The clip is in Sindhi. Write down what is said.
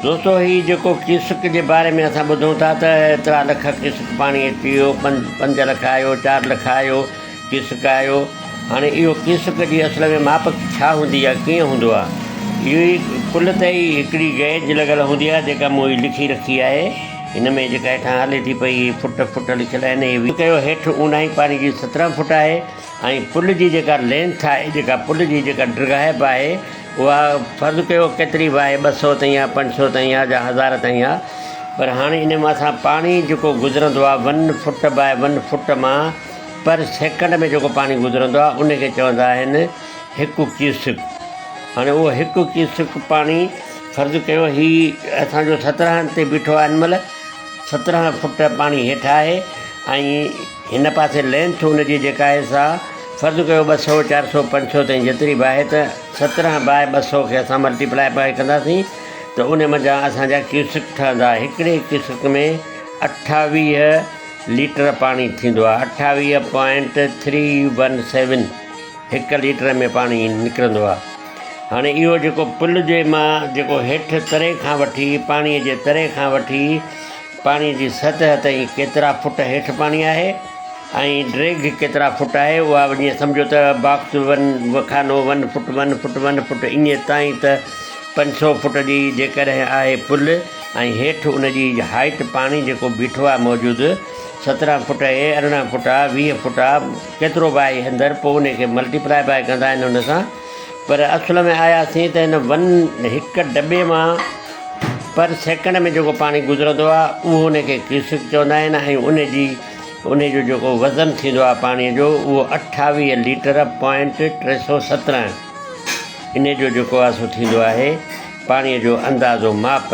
دوستو هي جيڪو ڪيسڪ جي باري ۾ اسان ٻڌون ٿا ته ايترا لک ڪيسڪ پاڻي اچي ويو، پنج لک آيو، چار لک آيو، ڪيسڪ آيو، هاڻي اهو ڪيسڪ جي اصل ۾ ماپ ڇا هوندي يا ڪيئن هوندو آهي؟ اهو ئي پل تي ئي هڪڙي گيج لڳل هوندي آهي جيڪا مون هي لکي رکي آهي، هن ۾ جيڪا هيٺان هلي ٿي پئي هي فٽ فٽ لکيل آهن، هي ويهه ڪيو هيٺ اونداهي پاڻي جي سترهن فٽ آهي، ۽ پل جي جيڪا لينٿ آهي جيڪا پل جي جيڪا ڊگهائپ آهي اها فرض ڪيو ڪيتري به آهي ٻه سؤ تائين آهي پنج سؤ تائين آهي جا هزار تائين آهي پر هاڻي ان مان سان پاڻي جيڪو گذرندو آهي one foot by one foot مان پر سيڪنڊ ۾ جيڪو پاڻي گذرندو آهي ان کي چوندا آهن هڪ ڪيوسڪ هاڻي اهو هڪ ڪيوسڪ پاڻي فرض ڪيو هي اسانجو سترهن تي بيٺو آهي هن مهل سترهن فٽ پاڻي هيٺ آهي ۽ هن پاسي لينٿ ان جي جيڪا آهي سا فرض ڪيو ٻه سؤ، چار سؤ، پنج سؤ تائين جيتري به آهي ته سترهن باء ٻه سؤ کي اسان ملٽي پلائي پائي ڪنداسين ته ان منجهان اسان جا ڪيوسڪ ٺهندا. هڪڙي ڪيوسڪ ۾ اٺاويهه ليٽر پاڻي ٿيندو آهي. اٺاويهه پوائنٽ ٿري ون سيون هڪ ليٽر ۾ پاڻي نڪرندو آهي. هاڻي اهو جيڪو پل جي مان جيڪو هيٺ تري کان وٺي پاڻيء جي تري کان وٺي پاڻي جي سطح تائين ڪيترا فٽ هيٺ پاڻي آهي ۽ ڊريگ ڪيترا فٽ آهي اها جيئن سمجهو ته باڪس ون وکانو one foot one foot one foot ايئن تائين ته پنج سؤ فٽ جي جيڪڏهن آهي پل ۽ هيٺ ان جي هائيٽ پاڻي جيڪو بيٺو آهي موجود سترهن فٽ اهي ارڙهن فٽ آهي ويهه فٽ آهي ڪيترو به آهي اندر پوء ان کي ملٽيپلائي بائي ڪندا آهن ان سان پر اصل ۾ آياسين ته هن ون هڪ دٻي مان پر سيڪنڊ ۾ جيڪو پاڻي گذرندو آهي اهو ان کي ڪيوسڪ چوندا آهن ۽ ان جي ان جو جيڪو وزن ٿيندو آهي پاڻي جو اهو اٺاويهه ليٽر پوائنٽ ٽي سو سترهن ان جو جيڪو آهي سو ٿيندو آهي پاڻي جو اندازو ماپ